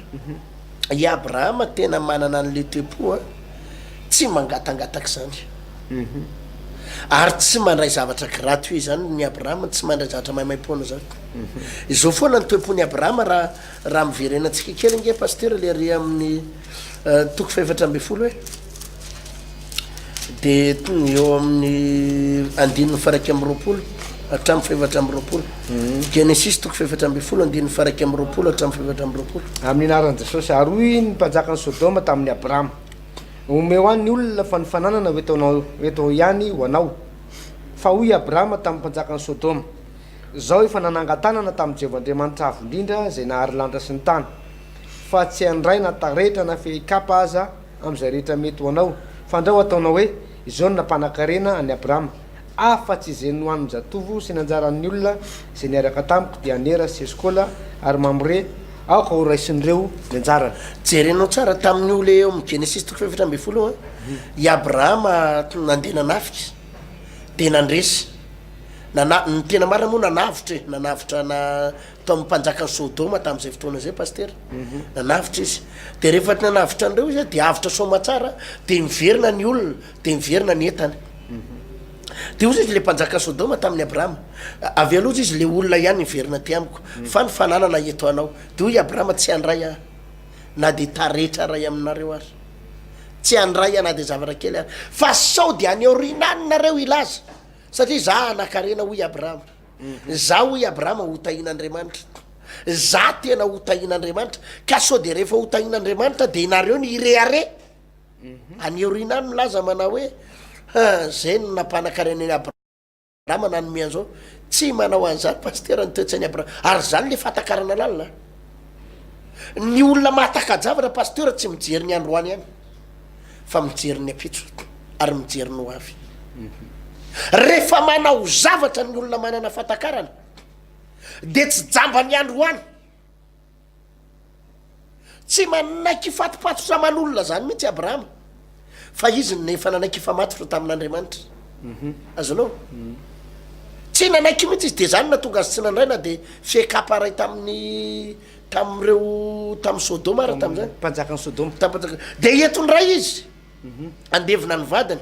I Abrahama tena manana an'le tempo a! Tsy mangatangataka izany. Ary tsy mandray zavatra gratuit izany ny Abrahama, tsy mandray zavatra maimaimpoana izany. Izao foana ny tempon'i Abrahama raha raha miverenantsika kely ange Pasteur le re amin'ny toko fahefatra ambin'ny folo hoe. dia tonga eo amin'ny andininy faraika amby roapolo hatramin'ny fahefatra amby roapolo mhm. genesis toko fahefatra amby folo andininy faraika amby roapolo hatramin'ny fahefatra amby roapolo amin'ny anaran'i jesosy ary hoy ny mpanjakan'i sodoma tamin'ny abrahama omeo any ny olona fa ny fananana ho etonao eto ihany ho anao fa hoy abrahama tamin'ny mpanjakan'i sodoma zao efa nanangatanana tamin'i jehovah andriamanitra avo indrindra zay nahary lanitra sy ny tany fa tsy handray na taretra na fehikapa aza amin'izay rehetra mety ho anao. Fandrao ataonao hoe izao ny nampanankarena an'i Abrama, Afa-tsy izay nohanin-jatovo sy nanjaran'ny olona izay niaraka tamiko, dia Anera sy Eskola ary Mamre, aoka horaisin'ireo ny anjarany. Jerenao tsara tamin'io le eo amin'ny Genesisy toko fahefatra ambin'ny folo io an. I Abrama nandeha nanafika, dia nandresy. Nana, ny tena marina moa nanavotra e, nanavotra na Tamin'ny mpanjakan'i Sodoma tamin'izay fotoana izay Pasitera, nanavotra izy. Dia rehefa nanavotra an'ireo izy, dia avotra soamatsara, dia niverina ny olona, dia niverina ny entana. Dia hozy izy, ilay mpanjakan'i Sodoma tamin'i Abrahama, Avia aloha, hozy izy, ilay olona ihany hiverina aty amiko, fa ny fananana eto anao. Dia hoy i Abrahama, Tsy handray aho na dia taretra iray aminareo ary. Tsy handray aho na dia zavatra kely ary. Fa sao dia any aoriana any nareo hilaza, satria izaho hanan-karena, hoy i Abrahama. Za hoy Abrahama ho tahin'Andriamanitra. Za tena ho tahin'Andriamanitra. Ka sao dia rehefa ho tahin'Andriamanitra dia nareo ny hirehareha? Any aoriana any milaza manao hoe zay no nampanan-karena an'i Abrahama nanome an'izao. Tsy manao an'izany Pasitera ny toe-tsain'i Abrahama. Ary izany ilay fahatakarana lalina. Ny olona mahataka-javatra Pasitera tsy mijery ny androany ihany. fa mijery ny ampitso ary mijery ny ho avy. Rehefa manao zavatra ny olona manana fahatakarana dia tsy jamba ny androany. Tsy manaiky hifatopatotra aman'olona izany mihitsy Abrahama fa izy no efa nanaiky hifamatotra tamin'Andriamanitra. Mhm. Azonao? Mhm. Tsy nanaiky mihitsy izy dia izany natonga azy tsy nandray na dia fiekam-paray tamin'ny Tamin'ireo tamin'i Sodoma ary tamin'izany. Tamin'ny mpanjakan'i Sodoma. Tamin'ny mpanjakan'i Sodoma. Dia eto indray izy handevina ny vadiny.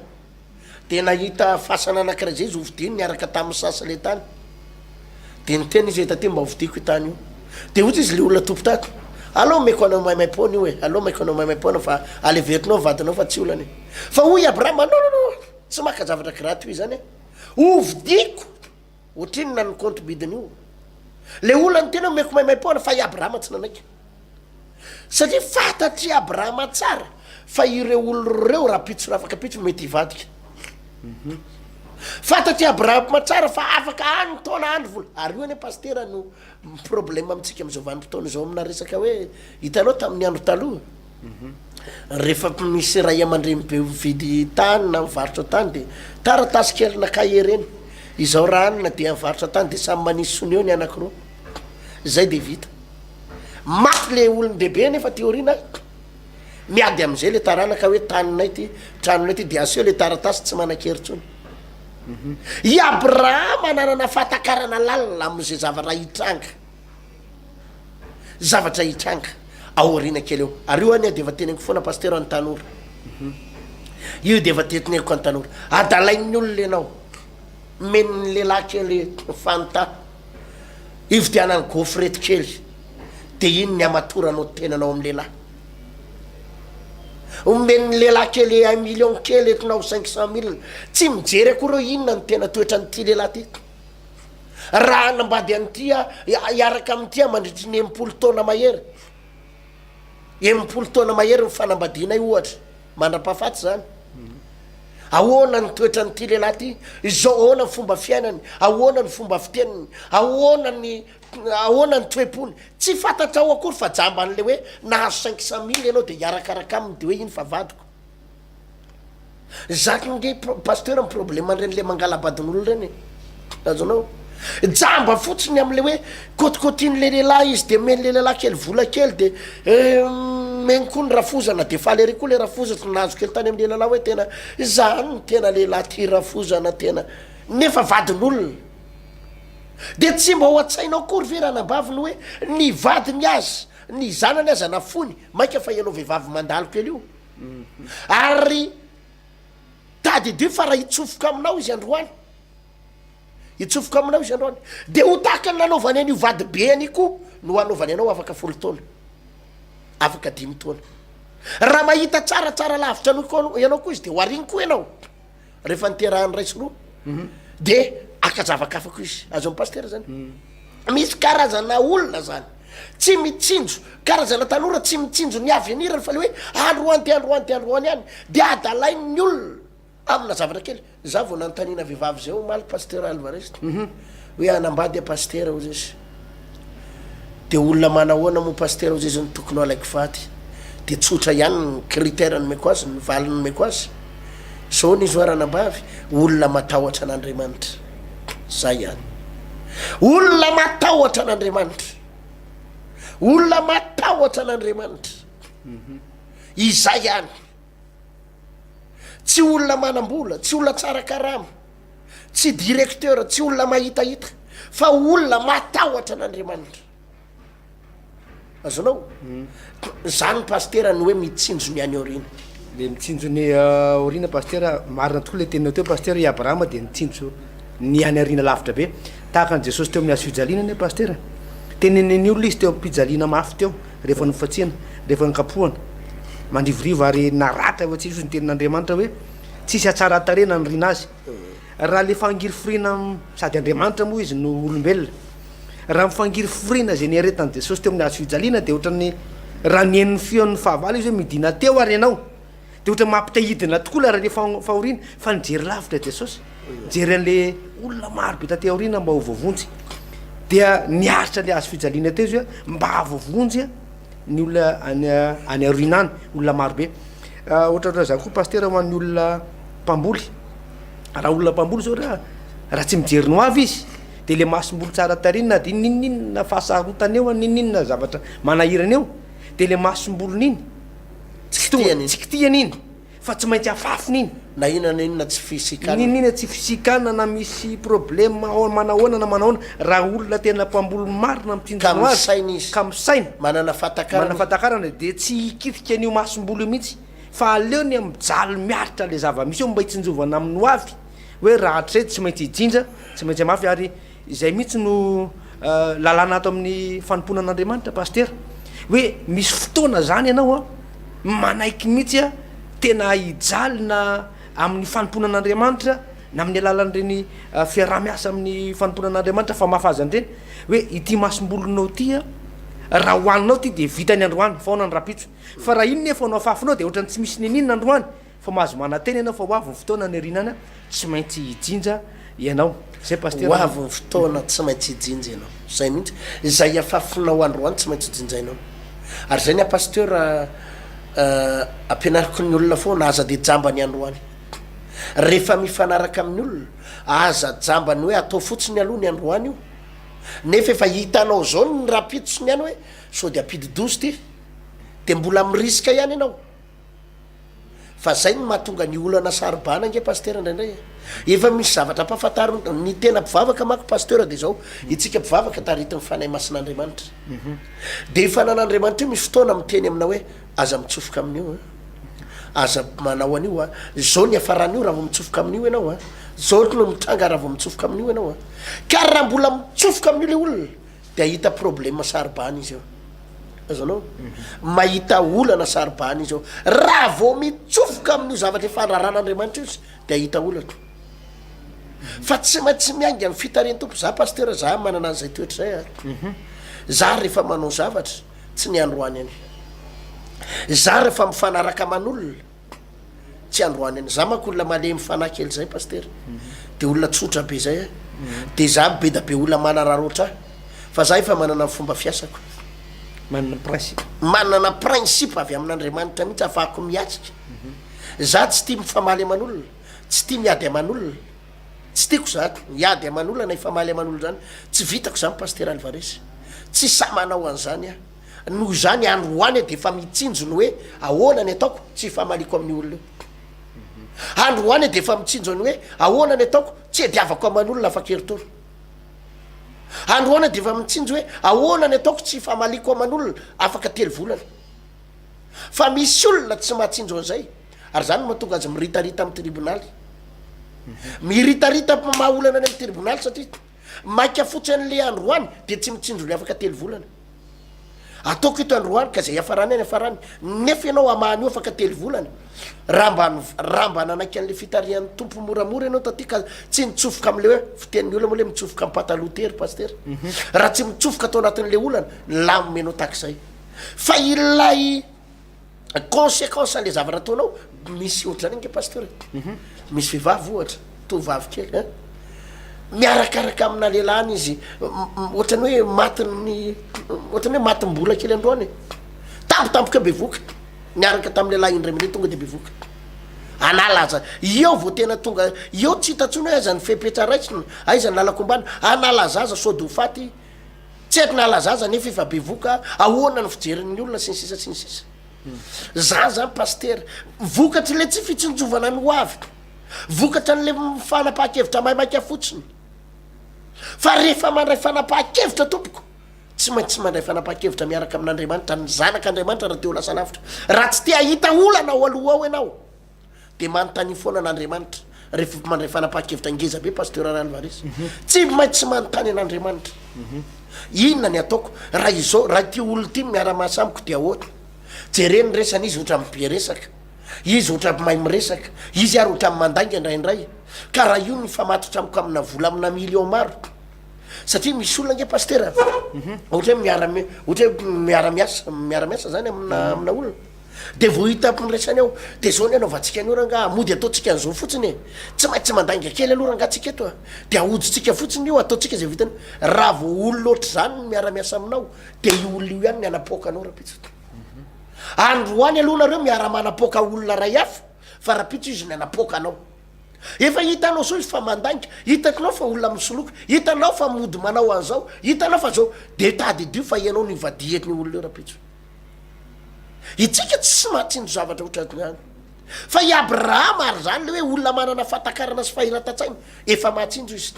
Dia nahita fasana anankiray izay izy hovidiany niaraka tamin'ny saha sy ilay tany. Dia niteny izy hoe, Tatỳ mba hovidiako io tany io. Dia hoy izy, Ilay olona tompontako, aleo omeko anao maimaim-poana io e, aleo omeko anao maimaim-poana fa aleverinao ny vadinao fa tsy olana e. Fa hoy i Abrahama, Nononono, tsy maka zavatra graty ho izany aho. Hovidiako! Ohatrinona ny compte bidin'io? Le olany tena omeko maimaimpoana fa i Abrahama tsy nanaiky. Satria fantatry i Abrahama tsara fa ireo olona ireo rahampitso raha afaka pitso no mety hivadika. Fantatry i Abrahama tsara fa afaka any taona andro vola. Ary io anie Pasitera no. Problème amintsika amin'izao vanim-potoana izao amina resaka hoe hitanao tamin'ny andro taloha rehefa misy ray aman-dreny be mividy tany na mivarotra tany dia taratasy kely na cahier ireny izao raha anona dia mivarotra tany dia samy manisy sony eo ny anankiroa izay dia vita maty le olon-dehibe nefa aty aoriana miady amin'izay le taranaka hoe taninay ty tranonay ty dia aseho le taratasy tsy manan-kery intsony I Abrahama nanana fahatakarana lalina amin'izay zavatra hitranga, zavatra hitranga ao aoriana kely eo. Ary io anie dia efa teneniko foana Pasitera an'ny tanora. Io dia efa teneniko an'ny tanora. Adalain'ny olona ianao. Men'ny lehilahy kely Fanta, ividianany gaufrette kely. Dia iny ny hamatoranao tenanao amin'ny lehilahy. Omen'ny lehilahy kely un million kely eto na ho cinq cent mille. Tsy mijery akory hoe inona no tena toetran'ity lehilahy ity. Raha hanambady an'ity aho, hiaraka amin'ity aho mandritry ny enimpolo taona mahery. Enimpolo taona mahery ny fanambadianay ohatra, mandra-pahafaty izany. Ahoana ny toetran'ity lehilahy ity? Izao, ahoana ny fomba fiainany? Ahoana ny fomba fiteniny? Ahoana ny Ahoana ny toe-pony? Tsy fantatrao akory fa jamba an'ilay hoe nahazo cinq cent mille ianao dia hiarakaraka aminy dia hoe iny fa vadiko. Zaka ange pasteur ny problème an'ireny le mangalabadin'olona ireny e. Azonao? Jamba fotsiny amin'ilay hoe kotikotian'ilay lehilahy izy dia omen'ilay lehilahy kely vola kely dia omeny koa ny rafozana dia faly ery koa ilay rafoza tsy nahazo kely tany amin'ilay lehilahy hoe tena izany ny tena lehilahy tia rafozana tena nefa vadin'olona. Dia tsy mba ao an-tsainao akory ve ranabavy ny hoe ny vadiny aza, ny zanany aza nafoiny, mainka fa ianao vehivavy mandalo kely io? Ary tadidio fa raha hitsofoka aminao izy androany, hitsofoka aminao izy androany, dia ho tahaka ny nanaovany an'io vadibeany io koa no hanaovany anao afaka folo taona, afaka dimy taona. Raha mahita tsara, tsara lavitra an'io koa ianao koa izy dia ho ariny koa ianao. rehefa niterahany iray sy roa de aka zavakafa ko izy azony pasteur zany misy karazana olona zany tsy mitsinjo karazana tanora tsy mitsinjo ny avenirany fa le hoe androany de androany de androany any de adalain'ny olona amina zavatra kely za vao nanontaniana vehivavy zay omaly pasteur alvariste hoe anambady a pasteur ozy izy Dia olona manahoana moa Pasitera hozy izy no tokony ho alaiko vady? Dia tsotra ihany ny critère nomeko azy, ny valiny nomeko azy. Izao anie izy hoa ranambavy, olona matahotra an'Andriamanitra. Izay ihany. Olona matahotra an'Andriamanitra. Olona matahotra an'Andriamanitra. Izay ihany. Tsy olona manam-bola, tsy olona tsara karama. tsy directeur, tsy olona mahitahita, fa olona matahotra an'Andriamanitra. Azonao? Zany Pasitera ny hoe mitsinjo ny any aoriana. Le mitsinjo ny aoriana Pasitera, marina tokoa le teninao teo Pasitera, i Abrahama dia nitsinjo ny any aoriana lavitra be, tahaka an'i Jesosy teo amin'ny hazo fijaliana anie Pasitera. Tenenin'ny olona izy teo am-pijaliana mafy teo, rehefa nofatsiana, rehefa nokapohana, mandrivorivo ary naratra hoe tsy hisy hozy ny tenin'Andriamanitra hoe, Tsisy hatsaran-tarehy naniriana azy. Raha le fangiriforiana sady Andriamanitra moa izy no olombelona. Raha ny fangiriforiana izay niaretan'i Jesosy teo amin'ny hazo fijaliana dia ohatran'ny raha nihaino feon'ny fahavalo izy hoe midina teo ary ianao. Dia ohatran'ny mampitahidina tokoa ilay raleha fahoriana fa nijery lavitra Jesosy. Nijery an'le olona marobe taty aoriana mba ho voavonjy. Dia niaritra le hazo fijaliana teo izy hoe mba voavonjy aho. ny olona any any aoriana any olona maro be ohatratra zany koa pastera ho an'ny olona mpamboly raha olona mpamboly zao raha raha tsy mijery ny ho avy izy de le masom-bolo tsara tarina na de ninoninona fahasarotana eo an ninoninona zavatra manahirana eo de le masom-bolony iny tsy kitihana iny Fa tsy maintsy afafy nini. Na inona na inona tsy fisikan. Niniana tsy fisikan na misy problème ao manahoana na manahoana raha olona tena mpamboly marina mitsinjona ho azy ka misaina izy ka misaina manana fahatakarana manana fahatakarana dia tsy hikitika an'io masomboly io mihitsy fa aleony a mijaly miaritra le zava-misy eo mba hitsinjovana aminy ho avy hoe raha hatrizay tsy maintsy hijinja tsy maintsy hamafy ary Izay mihitsy no lalàna ato amin'ny fanompoana an'Andriamanitra Pasitera, hoe misy fotoana zany ianao an, manaiky mihitsy an, tena hijaly na amin'ny fanompoana an'Andriamanitra na amin'ny alalan'ireny fiaraha-miasa amin'ny fanompoana an'Andriamanitra famafazana ireny, hoe ity masombolonao ity an, raha hohaninao ity dia vita ny androany, faona ny rahampitso, fa raha iny nefa no afafinao dia ohatran'ny tsy misy n'inon'inona androany, Fa mahazo manantena ianao fa ho avy ny fotoana nirinana tsy maintsy hijinja ianao. Zay Pasitera a. Ho avy ny fotoana tsy maintsy hijinja ianao. Zay mihitsy. Izay afafinao androany tsy maintsy jinjainao. Ary zay ny ahy Pasitera a, ampianariko ny olona foana aza dia jamba ny androany. Rehefa mifanaraka amin'ny olona, aza jamba ny hoe atao fotsiny aloha ny androany io. Nefa efa hitanao zao ny rahampitso sy ny any hoe sao dia ampidi-doza ity. Dia mbola mi-risque ihany ianao. Fa zay no mahatonga ny olana sarobana ange pasteur indraindray e! Efa misy zavatra ampahafantariny daholo, ny tena mpivavaka manko pasteur dia izao, itsika mpivavaka taritin'ny Fanahy Masin'Andriamanitra dia ny Fanan'Andriamanitra io misy fotoana miteny aminao hoe aza mitsofoka amin'io an! aza manao an'io an! izao ny hafaran'io raha vao mitsofoka amin'io ianao an! izao no mitranga raha vao mitsofoka amin'io ianao an! ka raha mbola mitsofoka amin'io ilay olona de ahita problema saribana izy eo azonao mahita olana saribana izy eo raha vao mitsofoka amin'io zavatra fandraran'andriamanitra izy de ahita olana fa tsy maintsy miainga amin'ny fitaren tompo za pastera za manana an'izay toetra zay a mhm. za rehefa manao zavatra tsy ny androany any za rehefa mifanaraka aman'olona Tsy androany any. Za manko olona malemy fanahy kely zay Pasitera. De olona tsotra be zay aho. De za mibeda be olona manarara otrah. Fa za efa manana ny fomba fiasako. Manana principe. Manana principe avy amin'Andriamanitra mihitsy afahako miatrika. Za tsy tia mifamaly aman'olona. Tsy tia miady aman'olona. Tsy tiako za hiady aman'olona na hifamaly aman'olona zany. Tsy vitako zany Pasitera Alvarez. Tsy sahy manao an'zany aho. Noho izany any Roany dia efa mitsinjo ny hoe ahoana ny ataoko tsy hifamaliako amin'ny olona eo. Any Roany dia efa mitsinjo ny hoe ahoana ny ataoko tsy hediavako aman'olona afa-keritory. Any Roany dia efa mitsinjo hoe ahoana ny ataoko tsy hifamaliako aman'olona afaka telo volana. Fa misy olona tsy mahatsinjo an'izay ary izany no mahatonga azy miritarita amin'ny tribonaly. Miritarita maha olana any amin'ny tribonaly satria. Maika fotsiny anle androany dia tsy mitsinjo ny afaka telo volana. Ataoko eto androany ka zay iafarany any iafarany nefa ianao hamaha an'io afaka telo volana. Raha mba raha mba nanaiky anle fitarihan'ny Tompo moramora ianao taty ka tsy nitsofoka amin'le hoe fitenin'ny olona moa le mitsofoka amin'ny pataloha tery Pasitera. Raha tsy mitsofoka tao anatin'le olana, nilamina ianao tahak'izay. Fa ilay consequence anle zavatra ataonao misy ohatr'zany ange pasteur mhm. misy vehivavy ohatra tovavy kely a eh? miarakaraka amina lelany izy ohatrany hoe matiny ohatrany hoe matimbola kely androany tampotampoka be voka miaraka tamin'ny lehilahy indray mande tonga de be voka analaza eo vao tena tonga eo tsy hitantsony hoe aizany fepetra raisina aizany lalakombana analazaza sode ho faty Tsy haiko na laza aza nefa efa bevoka, ahoana ny fijerin'ny olona sy ny sisa sy ny sisa. Za zany Pasitera, vokatry le tsy fitsinjovana ny hoaviko, vokatra an'le fanapahan-kevitra maimaika fotsiny. Fa rehefa mandray fanapahan-kevitra tompoko, tsy maintsy mandray fanapahan-kevitra miaraka amin'Andriamanitra, ny Zanak'Andriamanitra raha te ho lasa lavitra. Raha tsy te hahita olana ao aloha ao ianao, Dia manontania foana an'Andriamanitra. Rehefa mandray fanapahan-kevitra ngeza be Pasteur Ralvarez. Tsy maintsy tsy manontany an'Andriamanitra. Inona ny ataoko? Raha izao, raha ity olona ity no miara-miasa amiko dia ahoana? Jereo ny resany, izy ohatran'ny be resaka. Izy ohatran'ny mahay miresaka. Izy ary ohatran'ny mandainga indraindray. Ka raha io no hifamatotra amiko amina vola amina millions maro? Satria misy olona ange Pasteur a, ohatra hoe miara-mi, ohatra hoe miara-miasa, miara-miasa zany amina, amina olona. Dia vao hita ampiraisany aho, dia izao ny anaovantsika an'io rangaha, mody ataontsika an'izao fotsiny e! Tsy maintsy mandainga kely aloha rangaha tsika eto a! Dia ahodintsika fotsiny io, ataontsika izay vitany. Raha vao olona ohatr'izany no miara-miasa aminao, dia io olona io ihany ny hanapoaka anao Rapitso. Androany aloha nareo miara-manapoaka olona iray hafa, fa Rapitso izy ny hanapoaka anao. Efa hitanao izao izy fa mandainga, hitanao fa olona misoloky, hitanao fa mody manao an'izao, hitanao fa izao, dia tadidio fa ianao no hivadihan'io olona io Rapitso. Itsika tsy mahatsindry zavatra ohatran'izany. Fa i Abrahama ary izany le hoe olona manana fahatakarana sy fahiratan-tsaina efa mahatsinjo izy.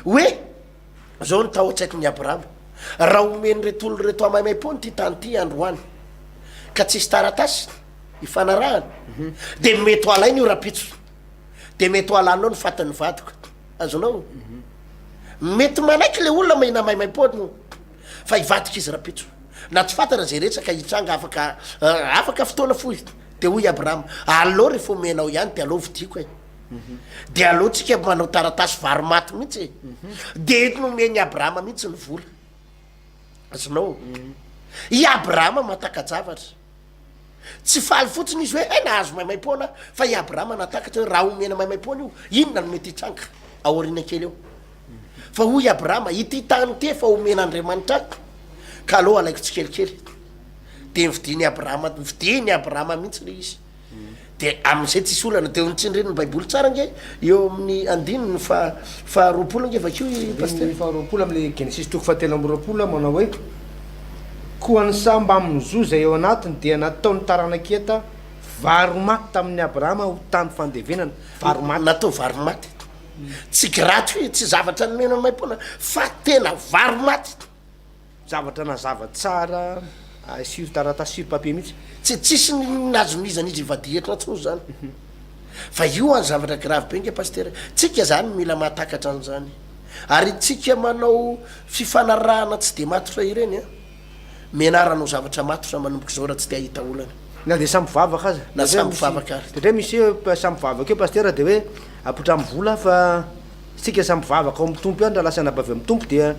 Hoe izao no tao an-tsaikon'i Abrahama, Raha omen'ireto olona ireto hamaimaim-pony ity tany ity androany, ka tsisy taratasy ifanarahana, dia mety ho alaina io rahampitso, dia mety ho halanao ny fatin'ny vadiko. Azonao? Mety manaiky le olona mihina maimaim-pony. Fa hivadika izy rapitso. Na tsy fantatra izay rehetra ka hitranga afaka afaka fotoana fohy. Dia hoy i Abrahama, Aleo rehefa omenao ihany dia aleo vidiako e! Dia aleo tsika manao taratasy vary maty mihitsy e! Dia eto nomen'i Abrahama mihitsy ny vola. Azonao? I Abrahama mahataka-javatra. Tsy faly fotsiny izy hoe, hay nahazo maimaim-poana aho. Fa i Abrahama nahatakatra hoe raha omena maimaim-poana io, inona no mety hitranga aoriana kely eo? Fa hoy i Abrahama, Ity tany ity efa omen'Andriamanitra ahy, ka aleo alaiko tsikelikely. Dia novidian'i Abrahama, novidian'i Abrahama mihitsy ilay izy. De amin'izay tsisy olana de tsindrin'ny baiboly tsara ange eo amin'ny andininy faha faha roapolo ange vakio i pasteur. Andininy faha roapolo amin'ny genesisy toko faha telo amby roapolo aho manao hoe koa ny saha mbamin'ny zo izay ao anatiny dia natao ny taranak'i Heta vary maty tamin'i Abrahama ho tany fandevenana, vary maty. Natao vary maty. Tsy gratuit, tsy zavatra nomena maim-poana fa tena vary maty. Zavatra nazava tsara ay sur taratasy sur papier mihitsy. Tsy tsisy nazomizan'izy ivadiha eto intsony zany fa io any zavatra grave be nge pasitera tsika zany mila mahatakatra anzany ary itsika manao fifanarahana tsy de matotra ireny a mianara anao zavatra matotra manomboka izao raha tsy te ahita olana Na dia samy mpivavaka aza. Na samy mpivavaka ary. Dia ndray misy eo samy mpivavaka eo pasitera dia hoe apoitra amin'ny vola fa. Isika samy mpivavaka ao amin'ny Tompo ihany raha lasa anabavy amin'ny Tompo dia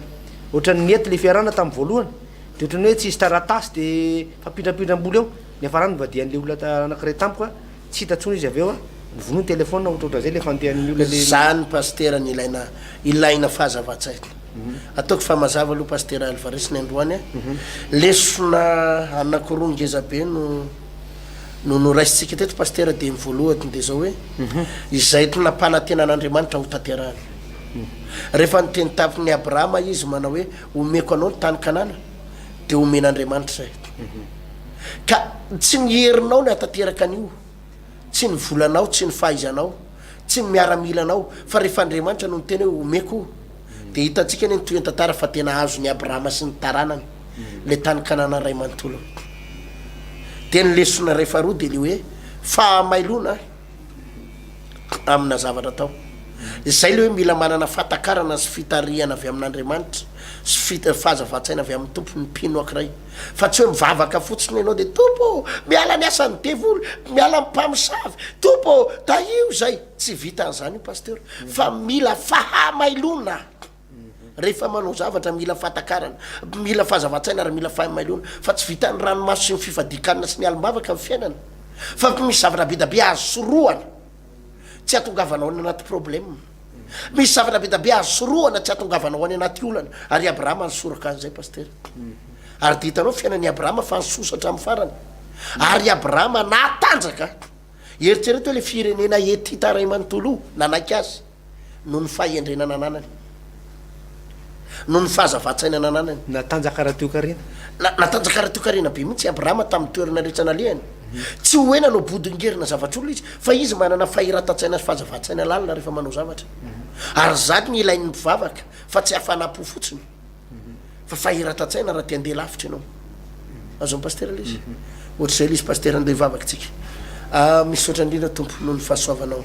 ohatran'ny nety le fiarahana tamin'ny voalohany dia ohatran'ny hoe tsy hisy taratasy dia mifampindrampindram-bola eo, niafarany nivadihan'le olona anankiray tamiko a, tsy hita tsony izy avy eo a, novonoiny telephone ohatraohatran' izay le fandehan'ny olona le. Zany Pasitera no ilaina ilaina fahazavan-tsaina. Ataoko fa mazava aloha Pasitera Alvarez ny androany a. Lesona anakiroa ngezabe no. no noraisintsika teto Pasitera dia ny voalohany dia izao hoe izay tsy nampanantenan'Andriamanitra ho tanterahany. Rehefa niteny tamin'i Abrahama izy manao hoe omeko anao ny tany Kanana dia omen'Andriamanitra izay. Ka tsy ny herinao no hahatanteraka an'io, tsy ny volanao, tsy ny fahaizanao, tsy ny miaramilanao fa rehefa Andriamanitra no niteny hoe omeko. Dia hitantsika anie ny tohian-tantara fa tena azon'i Abrahama sy ny taranany ilay tany Kanana ray manontolony. Dia ny lesona iray faharoa dia ilay hoe fahamailoana amina zavatra atao. Izay ilay hoe mila manana fahatakarana sy fitarihana avy amin'Andriamanitra sy fit- fahazavan-tsaina avy amin'ny Tompo ny mpino ankiray. Fa tsy hoe mivavaka fotsiny ianao dia Tompo ô! miala ny asan'ny devoly, miala amin'ny mpamosavy, Tompo ô! tahio izay. Tsy vitan'izany io Pasteur fa mila fahamailoana rehefa manao zavatra mila fahatakarana, mila fahazavan-tsaina ary mila fahamailoana fa tsy vitan'ny ranomaso sy ny fifadian-kanina sy ny alim-bavaka ny fiainana fa misy zavatra be da be azo sorohana tsy atongavanao any anaty problème, misy zavatra be da be azo sorohana tsy atongavanao any anaty olana ary i Abrahama nisoraka an'izay Pasteur ary dia hitanao fiainan'i Abrahama fa nisosa hatramin'ny farany ary i Abrahama natanjaka. Eritrereto hoe ilay firenena hetita iray manontolo nanaiky azy noho ny fahendrena nananany, noho ny fahazavan-tsaina nananany. Natanjaka ara-toekarena. Na, natanjaka ara-toekarena be mihitsy i Abrahama tamin'ny toerana rehetra nalehany. Tsy ho hoe nanao bodongerina zavatr'olona izy, fa izy manana fahiratan-tsaina sy fahazavan-tsaina lalina rehefa manao zavatra. Ary izany no ilain'ny mpivavaka, fa tsy hafanam-po fotsiny. Fa fahiratan-tsaina raha te handeha lavitra ianao. Azon'ny pasitera ilay izy. Ohatr'izay ilay izy pasitera andeha hivavaka isika. Ah, misaotra indrindra Tompo noho ny fahasoavanao.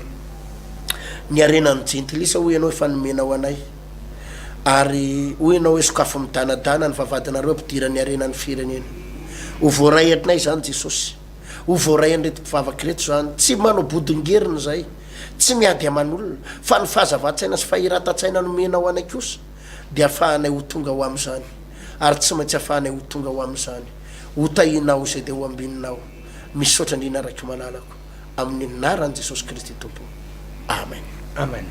Ny harenan'ny jentilisa hoy ianao efa nomenao anay. Ary hoy ianao hoe sokafy midanadana ny vavahadinareo hampidira ny harenan'ny firenena. Ho voaray atrinay izany Jesosy. Ho voaray an'ireto mpivavaka ireto izany. Tsy manao bodongerina izahay. Tsy miady aman'olona. Fa ny fahazavan-tsaina sy fahiratan-tsaina nomenao anay kosa. dia afahanay ho tonga ho amin'izany, ary tsy maintsy afahanay ho tonga ho amin'izany. Ho tahinao izay dia ho ambininao. Misaotra indrindra raiky malalako. Amin'ny anaran'i Jesosy Kristy Tompo. Amen. Amen.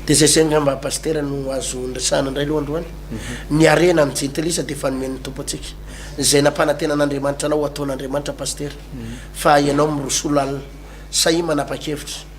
Dia zay zay angamba Pasitera no azo niresahana indray aloha androany. Ny harena ny jentilisa dia efa nomen'ny Tompo antsika. Izay nampanantenan'Andriamanitra anao ho ataon'Andriamanitra Pasitera. Fa ianao miroso lalina. Sahia manapa-kevitra.